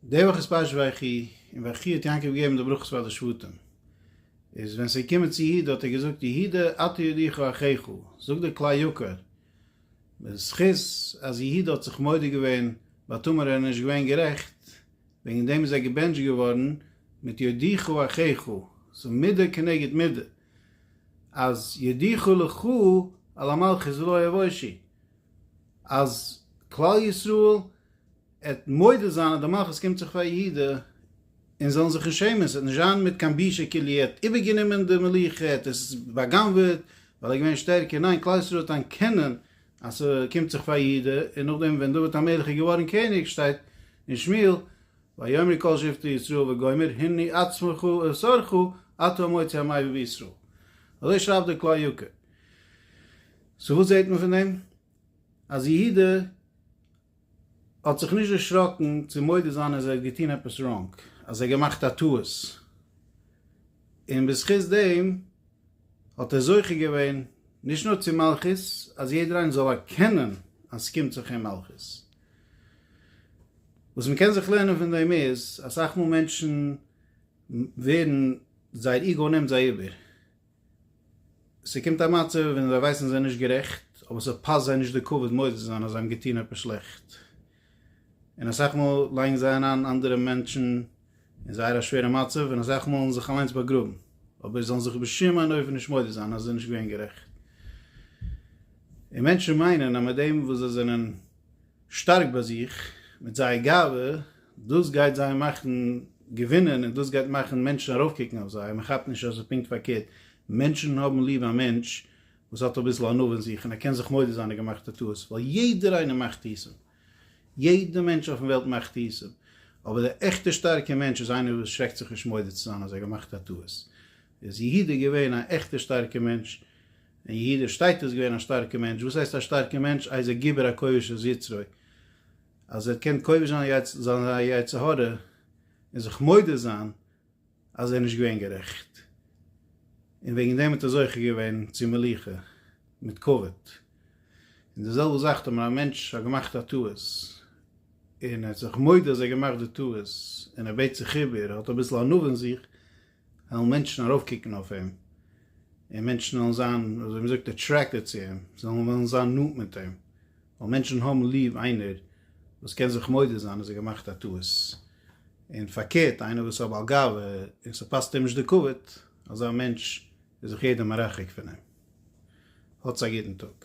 די וואך איז פרשת ויחי, און ויחי האט יעקב געגעבן די ברכות פאר די שבטים, איז ווען ס'איז געקומען צו יהודה האט ער געזאגט יהודה אתה ידיך אחיך, זאגט דער כלי יקר, בזכות אז יהודה האט זיך מודה געווען ביי תמר ער איז נישט געווען גערעכט, וועגן דעם איז ער געבענטשט געווארן מיט ידיך אחיך, ס'איז מידה כנגד מידה, אז ידיך לך על המלכות ולא יבושי, אז כלל ישראל. ער וועט מודה זיין אז די מלכות קומט זיך פאר יעדע און זאלן זיך נישט שעמען, עס וועט נישט זיין מיט קיין בושה כאילו ער האט איבערגענומען די מלוכה, ער האט עס בא'גנב'עט ווייל ער איז געווען שטערקער, ניין כלל ישראל האט אנקענען אז ס'קומט זיך פאר יעדע, און נאכדעם ווען דוד המלך איז געווארן קעניג שטייט אין שמואל ויאמרו כל שבטי ישראל וגומר הנה עצמך אסרכה אתה המוציא המעביר בישראל, אזוי שרייבט דער כלל יקר, סאו וואס זעט מען פון דעם? אז יהודה האט זיך נישט דערשראקן צו מודה זיין אז ער האט געטון עפעס ראנג, אז ער האט געמאכט א טעות, און בזכות דעם האט ער זוכה געווען נישט נאר צו מלכות, אז יעדער איינער זאל ערקענען אז ס'קומט זיך אים מלכות. וואס מ'קען זיך לערנען פון דעם איז, אסאך מאל מענטשן ווערן, זייער איגאו נעמט זיי איבער, ס'קומט א מצב ווען זיי ווייסן זיי נישט גערעכט, אבער ס'פאסט זיי נישט די כבוד מודה צו זיין אז זיי האבן געטון עפעס שלעכט. און אסאך מאל לייגן זיי אריין אנדערע מענטשן אין זייער א שווערע מצב, און אסאך מאלן זיך אליינס באגראבן, אבער זאלן זיך בשום אין אופן נישט מודה זיין אז זיי נישט געווען גערעכט. און מענטשן מיינען אז מיט דעם וואס זיי זענען שטארק ביי זיך מיט זייער גאווה, דאס גייט זיי מאכן געווינען און דאס גייט מאכן מענטשן ארויפקוקן אויף זיי, מען כאפט נישט אז עס איז פונקט פארקערט, מענטשן האבן ליב א מענטש וואס האט אביסל ענווה אין זיך און ער קען זיך מודה זיין די געמאכטע טעות, ווייל יעדער איינער מאכט טעותים, יעדער מענטש אויפן וועלט מאכט טעותים, אבער דער עכטער שטארקער מענטש איז איינער וואס שרעקט זיך נישט מודה צו זיין אז ער געמאכט א טעות, איז יהודה געווען א עכטע שטארקע מענטש? אין יהודה שטייט איז געווען א שטארקע מענטש, וואס הייסט א שטארקע מענטש? איז ער גיבור הכובש את יצרו, אז ער קען כובש זיין זיין יצר הרע און זיך מודה זיין אז ער איז נישט געווען גערעכט, און וועגן דעם האט ער זוכה געווען צו מלוכה מיט כבוד. און די זעלבע זאך טאמער א מענטש האט געמאכט א טעות, און ער האט זיך מודה אז ער האט געמאכט די טעות, און ער בעט זיך איבער, ער האט אביסל ענווה אין זיך, וועלן מענטשן ארויפקוקן אויף אים, און מענטשן וועלן זיין, אזוי מ'זאגט, אטרעקטעד צו אים, זיי וועלן וועלן זיין נאנט מיט אים, ווייל מענטשן האבן ליב איינער וואס קען זיך מודה זיין אז ער האט געמאכט א טעות, און פארקערט איינער וואס איז א בעל גאווה און ס'פאסט אים נישט די כבוד, אזא מענטש איז זיך יעדער מרחק פון אים. האטס א גוטן טאג.